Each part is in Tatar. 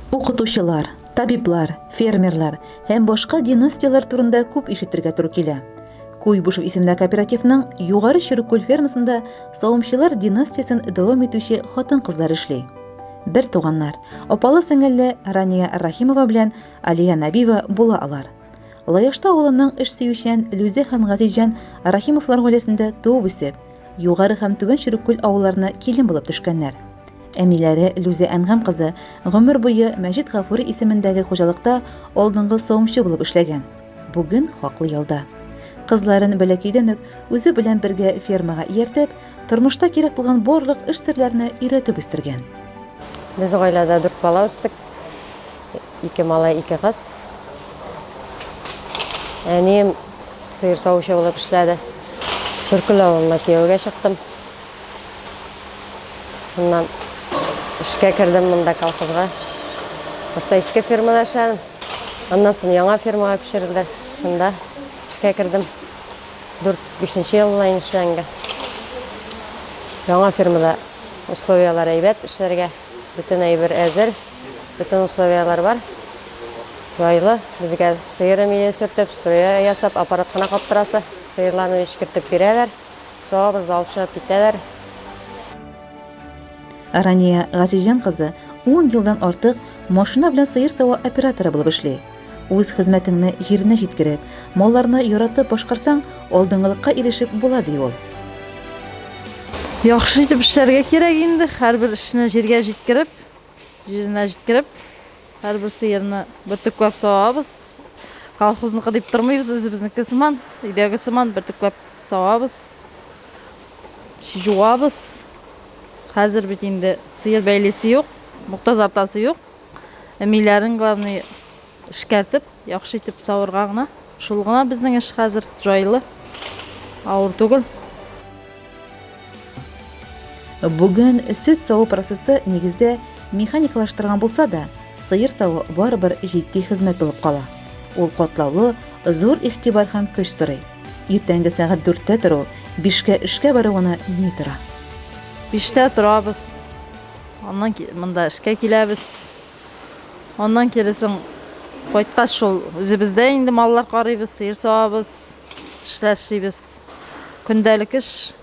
Укытучылар, табиблар, фермерлар һәм башка династияләр турында күп ишетергә туры килә. Куйбышев исемендә кооперативның Югары Чөрек күл фермасында савымчылар династиясен дәвам итүче хатын-кызлар эшли. Бер туганнар, апалы-сеңелле Рания Рахимова белән Алия Набиева була алар. Лаешта авылының эш сөючән Люзе һәм Газизҗан Рахимовлар гаиләсендә туып үсеп, Югары һәм Түбән Чүреккүл авылларына килен булып төшкәннәр. Әниләре Люзе Әнгам кызы гомер буе Мәҗит Гафури исемендәге хуҗалыкта алдынгы савымчы булып эшләгән. Бүген хаклы ялда. Кызларын бәләкәйдән үк үзе белән бергә фермага ияртеп, тормышта кирәк булган барлык эш серләренә өйрәтеп үстергән. Без гаиләдә дүрт бала үстек. Ике малай, ике кыз. Әнием сыер савучы булып эшләде. Төркел авылына кияүгә чыктым. Шуннан эшкә кердем монда колхозга. Башта иске фермада эшләдем. Аннан соң яңа фермага күчерелде. Шунда эшкә кердем. 4-5 ел була инде эшләнгә. Яңа фермада условияләр әйбәт эшләргә. Бөтен әйбер әзер. Бөтен условияләр бар. Җайлы. Безгә сыер өмие сөртеп, струя ясап, аппарат кына каптырасы. Сыерларны эчкертеп бирәләр. Суабыз да алып чыгып китәләр. Рания Газизҗан кызы ун елдан артык машина белән сыер саву операторы булып эшли. Үз хезмәтеңне җиренә җиткереп, малларны яратып башкарсаң, алдынгылыкка ирешеп була, ди ул. Яхшы итеп эшләргә кирәк инде, һәрбер эшне җиргә җиткереп, Җиренә җиткереп, һәрбер сыерны бөртекләп савабыз. Колхозныкы дип тормыйбыз, үзебезнеке сыман, өйдәге сыман бөртекләп савабыз. Жуабыз. Хәзер бит инде сыер бәйлесе юк, мохтазартасы юк. Әмиләрен главный Эшкәртеп, яхшы итеп савырга гына. Шул гына безнең эш хәзер, җайлы, авыр түгел. Бүген сөт саву процессы нигездә механикалаштырган булса да, сыер саву барыбер җитди хезмәт булып кала. Ул катлаулы, зур игътибар һәм көч сорый. Иртәнге сәгать 4-тә тору, 5-кә эшкә баруына ни тора? 5-тә торабыз. Аннан монда эшкә киләбез. Аннан кире соң кайткач шул үзебездә инде маллар карыйбыз, сыер савабыз, эшләр эшлибез. Көндәлек эш.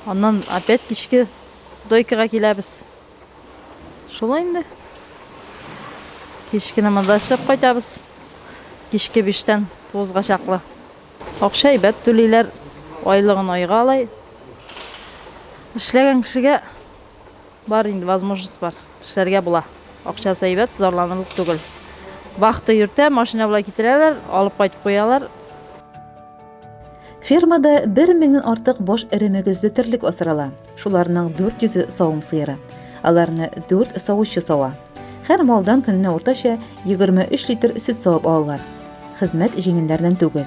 Аннан опять кичке дойкага киләбез. Шулай инде. Кичкене монда эшләп кайтабыз. Кичке биштән туызга чаклы. Акча әйбәт түлиләр. Айлыгын айга алай. Эшләгән кешегә Бар инде возможность бар, эшләргә була. Акчасы әйбәт, зарланырлык түгел. Вахта йөртә, машина белән китерәләр, алып кайтып куялар. Фермада бер меңнән артык баш эре мөгезле терлек асрала. Шуларның 400-е савым сыеры. Аларны 4 савучы сава. Һәр малдан көненә уртача 23 литр сөт савып алалар. Хезмәт җиңелләрдән түгел.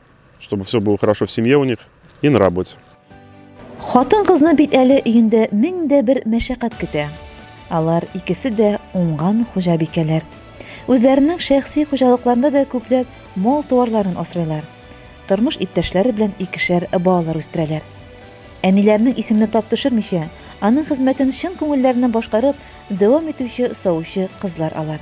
Чтобы все было хорошо в семье у них и на работе. Хатын кызны бит әле өендә мең дә бер мәшәкать көтә. Алар икесе дә уңган хуҗабикәләр. Үзләренең шәхси хуҗалыкларында да күпләп мал туарларын асрыйлар. Тормыш иптәшләре белән икешәр балалар үстерәләр. Әниләрнең исемне тап төшермичә, аның хезмәтен чын күңелләреннән башкарып дәвам итүче саучы кызлар алар.